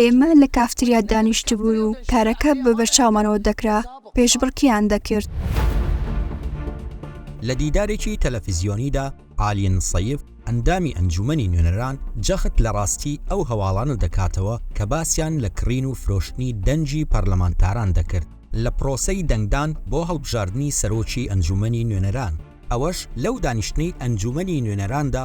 ئێمە لە کافتریا دانیشتبوون و کارەکە بە بەرچاومانەوە دەکرا، پێشبڕکێیان دەکرد. لە دیدارێکی تەلەفزیۆنیدا، ئالین سەیف، ئەندامی ئەنجوومەنی نوێنەران جەخت لە ڕاستی ئەو هەواڵانە دەکاتەوە کە باسیان لە کڕین و فرۆشتنی دەنگی پەرلەمانتاران دەکرد لە پرۆسەی دەنگدان بۆ هەڵبژاردنی سەرۆکی ئەنجوومەنی نوێنەران، ئەوەش لەو دانیشتنەی ئەنجوومەنی نوێنەراندا،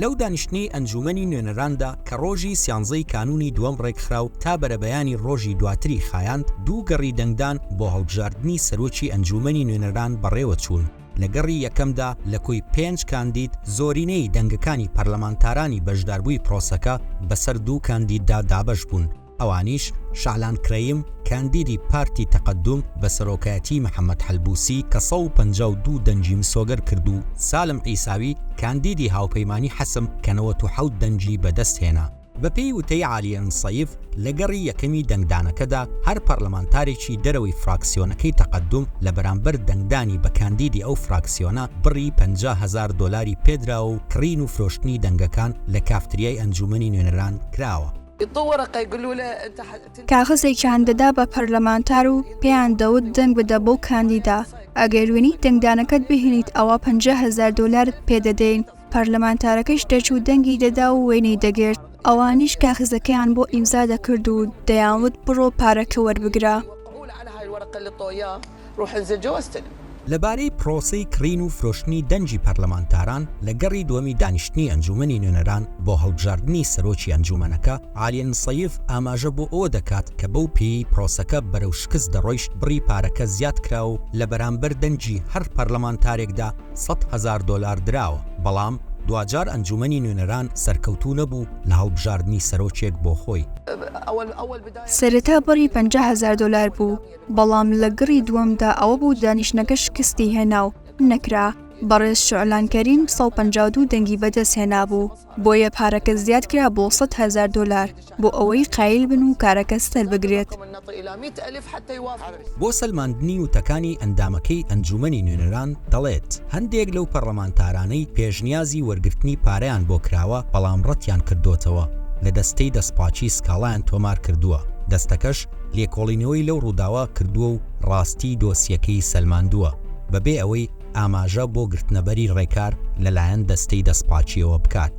لەو دانیشتنەی ئەنجوومەنی نوێنەراندا کە ڕۆژی سیانزەی کانوونی دووەم ڕێکخرا و تا بەرەبەیانی ڕۆژی دواتری خایاند، دوو گەڕی دەنگدان بۆ هەڵبژاردنی سەرۆکی ئەنجوومەنی نوێنەران بەڕێوەچوون. لە گەڕی یەکەمدا لە کۆی پێنج کاندید، زۆرینەی دەنگەکانی پەرلەمانتارانی بەشداربووی پرۆسەکە بەسەر دوو کاندیددا دابەش بوون. ئەوانیش، شەعلان کرەیم، کاندیدی پارتی تەقەدوم بە سەرۆکایەتیی محەمەد حەلبووسی کە سەد و پەنجا و دوو دەنگی مسۆگەر کرد و سالم عیساوی، کاندیدی هاوپەیمانیی حەسم کە نەوەد و حەوت دەنگی بەدەست هێنا. بەپێی وتەی عالیە نسەیف، لە گەڕی یەکەمی دەنگدانەکەدا هەر پەرلەمانتارێکی دەرەوەی فراکسیۆنەکەی تەقەدوم لە بەرامبەر دەنگدانی بە کاندیدی ئەو فراکسیۆنە بڕی پەنجا هەزار دۆلاری پێدراوە و کڕین و فرۆشتنی دەنگەکان لە کافتریای ئەنجوومەنی نوێنەران کراوە. کاغەزێکیان دەدا بە پەرلەمانتار و پێیان دەوت دەنگ بدە بەو کاندیدا، ئەگەر وێنەی دەنگدانەکەت بهێنیت ئەوا پەنجا هەزار دۆلارت پێ دەدەین، پەرلەمانتارەکەش دەچوو دەنگی دەدا و وێنەی دەگرت، ئەوانیش کاغەزەکەیان بۆ ئیمزا دەکرد و دەیانوت بڕۆ پارەکە وەربگرە. روحن زە جۆ استلم. لەبارەی پرۆسەی کڕین و فرۆشتنی دەنگی پەرلەمانتاران لە گەڕی دووەمی دانیشتنی ئەنجوومەنی نوێنەران بۆ هەڵبژاردنی سەرۆکی ئەنجوومەنەکە، عالی نسیف ئاماژە بۆ ئەوە دەکات کە بەو پێیەی پرۆسەکە بەرەو شکست دەڕۆیشت بڕی پارەکە زیاد کراوە و لە بەرامبەر دەنگی هەر پەرلەمانتارێکدا سەد هەزار دۆلار دراوە، بەڵام دواجار ئەنجوومەنی نوێنەران سەرکەوتوو نەبوو لە هەڵبژاردنی سەرۆکێک بۆ خۆی. سەرەتا بڕی پەنجا هەزار دۆلار بوو، بەڵام لە گڕی دووەمدا ئەوە بوو دانیشتنەکە شکستی هێنا و نەکرا، بەڕێز شوعلان کەریم سەد و پەنجا و دوو دەنگی بەدەست هێنابوو، بۆیە پارەکە زیاد کرا بۆ سەد هەزار دۆلار بۆ ئەوەی قایل بن و کارەکە سەربگرێت. بۆ سەلماندنی وتەکانی ئەندامەکەی ئەنجوومەنی نوێنەران دەڵێت، هەندێک لەو پەرلەمانتارانەی پێشنیازی وەرگرتنی پارەیان بۆ کراوە بەڵام ڕەتیان کردۆتەوە، لە دەستەی دەستپاکی سکاڵایان تۆمار کردووە، دەستەکەش لێکۆڵینەوەی لەو ڕووداوە کردووە و ڕاستیی دۆسیەکەی سەلماندووە، بەبێ ئەوەی ئاماژە بۆ گرتنەبەری ڕێکار لەلایەن دەستەی دەستپاکییەوە بکات.